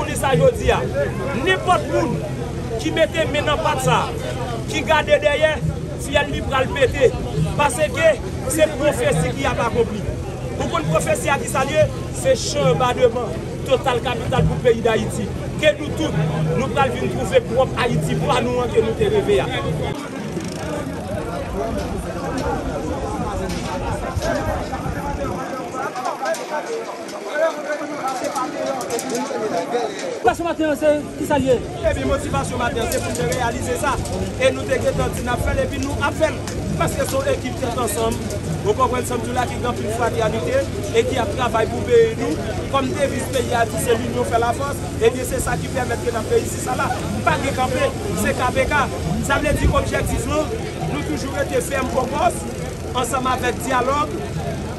Konnen sa jodi a, nenpòt moun ki mete men nan pat sa, ki gade dèyè, fyèl li pral pete, paske se pwofesi ki ap akonpli. Ou konn pwofesi a kisa l ye? Se chanbademan total kapital pou peyi Dayiti, ke nou tout, nou pral vin twouve pwòp Ayiti pa nou an ke nou te reve a. Motivasyon maten an se kisa l ye? Ebyen motivasyon maten an se pou te reyalize sa e nou te gentan di nap fèl epi nou ap fèl paske son ekip tèt ansanm ou konprann sam diw la ki gen anpil fratènite e ki ap travay pou peyi nou kòm deviz peyi a di se linyon fè la fòs ebyen se sa ki pèmèt ke nap reyisi sa la pa gen kanpe se kape ka sa vle di objektif nou nou toujou rete fèm fokòs ansanm avèk dyalòg.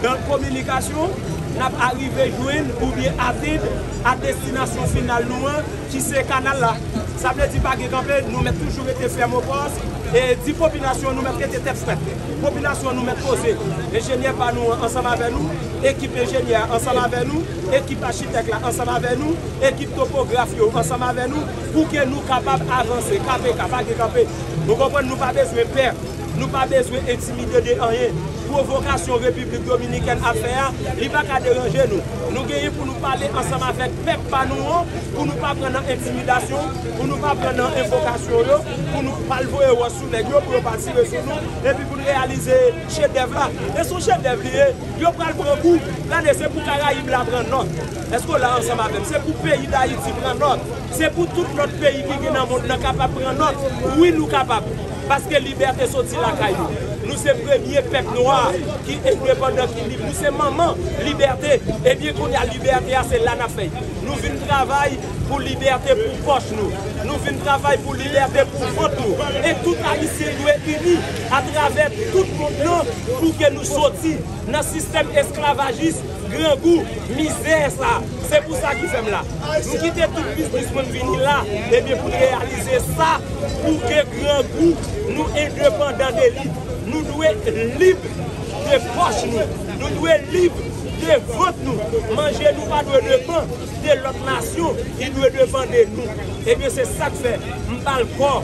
Nan kominikasyon, n ap arive jwenn oubyen atenn a destinasyon final nou an ki se kanal la. Sa vle di pa gen kanpe, nou mèt toujou rete fèm o pòs e di popilasyon nou mèt rete tèt frèt. Popilasyon nou mèt poze. Enjenyè pa nou an ansanm avè nou, ekip enjenyè a ansanm avè nou, ekip achitèk la ansanm avè nou, ekip topograf yo ansanm avè nou pou ke nou kapab avanse. KPK, pa gen kanpe. Nou konprann nou pa bezwen pè. Nou pa bezwen entimide de anyen. Pwovokasyon Repiblik Dominikèn ap fè a, li pa ka deranje nou. Nou genyen pou nou pale ansanm avèk pèp pa nou an, pou nou pa pran nan entimidasyon, pou nou pa pran nan envokasyon yo, pou nou pa al voye wòch sou nèg yo pou yo pa tire sou nou, epi pou n reyalize chedèv la. E se yon chedèv li ye. Yo pral pran kou. Gade, se pou Karayib la pran nòt. Èske w la ansanm avè m? Se pou peyi Dayiti pran nòt. Se pou tout lòt peyi ki gen nan mond lan kapab pran nòt. Wi, nou kapab. Paske libète soti lakay nou. Nou se premye pèp nwa ki endepandan, ki lib. Nou se manman libète. Ebyen kounye a libète a se la n ap fè l. Nou vin travay pou libète pou pòch nou. Nou vin travay pou libète pou vant nou. E tout Ayisyen dwe ini atravè tout mond lan pou ke nou soti nan sistèm esklavajis. Grangou, mizè sa, se pou sa ki fè m la. M kite tout biznis mwen m vini la, ebyen pou n reyalize sa, pou ke grangou nou endepandan de li. Nou dwe lib de pòch nou, nou dwe lib de vant nou. Manje nou pa dwe depan de lòt nasyon, li dwe depan de nou. Ebyen se sa k fè m ba l kò,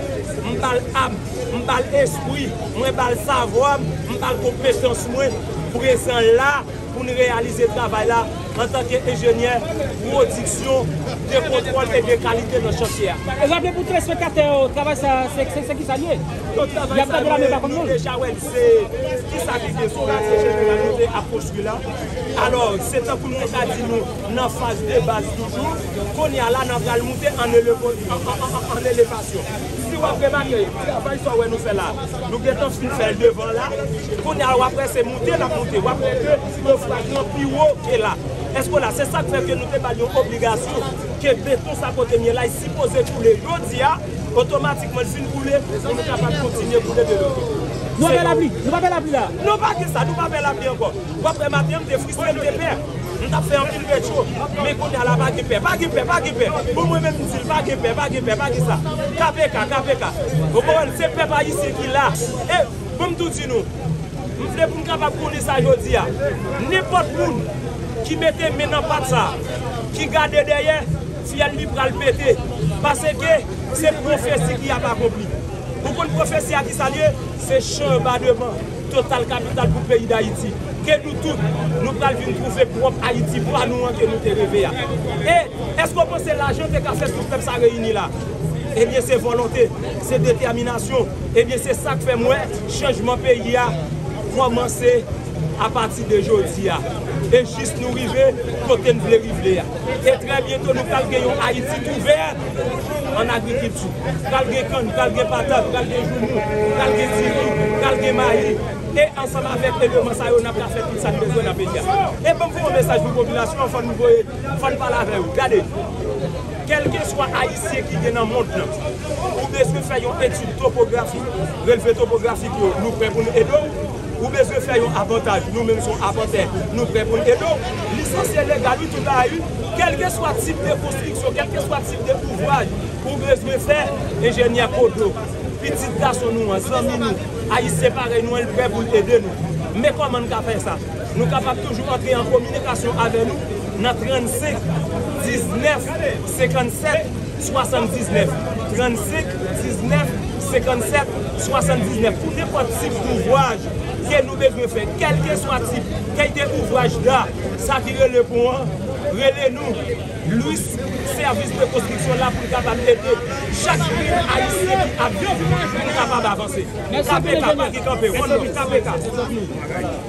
m ba l am, m ba l espri, mwen ba l savwa m, m ba l konpetans mwen prezan la. Pou n reyalize travay la antanke enjenyè pwodiksyon, de kontwòl e de kalite nan chantye a. Raple pou telespektatè yo travay sa se kisa li ye? Don travay sa nou ye nou deja wè l se kisa ki gen sou katye jeneral nou te ap konstwi la. Alò se tankou m te ka di nou nan faz de baz toujou. Kounye a la n a pral moute an elevasyon. Si wap remake travay sa w wè nou fè la, nou gentan fin fè l devan la, kounye a wap wè se moute lap moute, wap wè ke nofraj lan pi wo ke la. Eske la? Se sak fè ke nou te ba l yon obligasyon ke beton sa kote l ye la li sipoze koule jodi a, otomatikman li fin koule pou nou kapab kontinye koule de lòt kote. Nou ap pè lapli? Nou pa pè lapli la a? Nou pa gen sa, nou pa pè lapli ankò. Wap wè maten an m te fristre, m te pè. M tap fè anpil pè cho, men kounya la pa gen pè, pa gen pè, pa gen pè, pou mwen menm m di l pa gen pè, pa gen pè, pa gen sa. KPK, KPK. Ou konprann, se pèp ayisyen ki la. E, pou m tou di nou, m vle pou n kapab konnen sa jodi a, nenpòt moun ki mete men nan pat sa, ki gade dèyè, fyèl li pral pete, paseke se pwofesi ki ap akonpli. Ou konn pwofesi a ki sa l ye? Se chan anba deman. Total kapital pou peyi Dayiti. Ke nou tout, nou pral vin twouve pwòp Ayiti pa nou an ke nou te reve a. E, èske w panse lajan te ka fè tout pèp sa reyini la? Ebyen se volonte, se detèminasyon, ebyen se sa k fè m wè chanjman peyi a kòmanse a pati de jodi a. E jis nou rive kote n vle rive a. E trè byento nou pral gen yon Ayiti ki ouvè. An agrikilti, pral gen kann, pral gen patat, pral gen joumou, pral gen diri, pral gen mayi. E ansanm avèk eleman sa yo n ap ka fè tout sa n bezwen nan peyi a. E ban m fè yon mesaj pou popilasyon an, fò n voye, fò n pale avè yo. Gade, kèlkeswa Ayisyen ki gen nan mond lan, ou bezwen fè yon etid topografik, relve topografik yo, nou prè pou n ede w. Ou bezwen fè yon apantaj, nou menm son apantè, nou prè pou n ede w. Lisansye legal wi tout bagay wi. Kèlkeswa tip de konstriksyon, kèlkeswa tip de ouvraj ou bezwen fè, enjenyè Kodo, pitit gason nou an, zanmi nou, ayisyen parèy nou an, li prè pou l ede nou. Men kòman n ka fè sa? Nou kapab toujou antre an kominikasyon avè nou nan 35 19 57 79. 35. 19, 57, 79 pou nenpòt tip d'ouvraj ke nou bezwen fè, kèlkeswa tip, kèlte ouvraj da, sa ki rele pon an, rele nou, Louis, sèvis de konstriksyon la pou n kapab ede chak moun ayisyen ki ap viv pou nou kapab avanse. Kpk pa gen kanpe wonn non, kpk.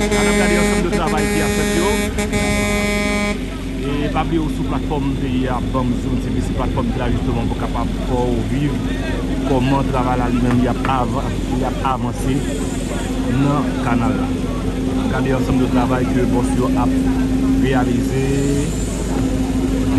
An ap gade ansanm de travay ki ap fèt yo. E pa bliye ou sou platfòm peyi a ap banm Zone TV se platfòm ki la jisteman pou kapab fè w viv kòman travay la li menm li ap li ap avanse nan kanal la. Gade ansanm de travay ke bòs yo ap reyalize ok.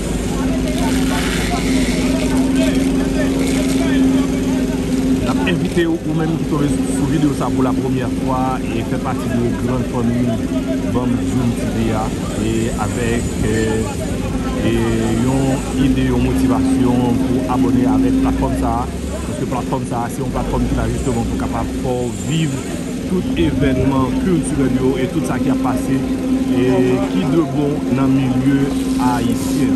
Nap envite ou menm ki tonbe sou video sa pou la premyè fwa e fè pati de grand fanmi Banm Zoom TV a e avèk e yon ide yon motivasyon pou abòne avèk platfòm sa paske platfòm sa se yon platfòm ki la jisteman pou kapab fè w viv tout evènman kiltirèl yo e tout sa ki ap pase e ki de bon nan milye ayisyen.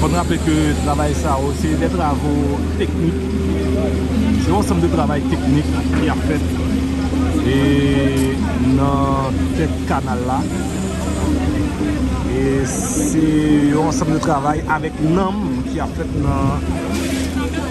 Fòn raple ke travay sa yo se de travo teknik, se yon sanm de travay teknik ki ap fèt e nan tèt kanal la e se yon sanm de travay avèk nanm ki ap fèt nan.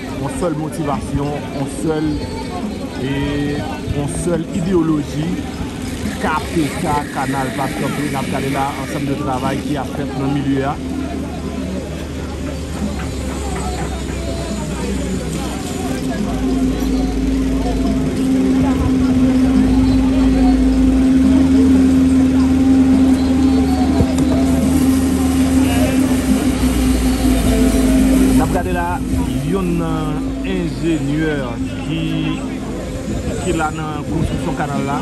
yon sèl motivasyon, yon sèl e yon sèl ideyoloji KPK kanal pa kanpe nap gade la ansanm de travay ki ap fèt nan milye a. Yonn nan enjenyè ki la nan konstriksyon kanal la.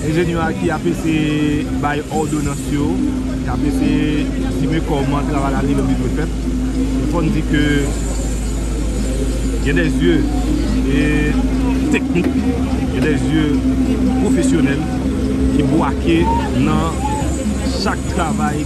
Enjenyè a ki ap eseye bay òdonans yo, ki ap eseye estime kòman travay la genlè dwe fèt. Men fò n di ke gen de zye teknik, gen de zye pwofesyonèl ki bwake nan chak travay.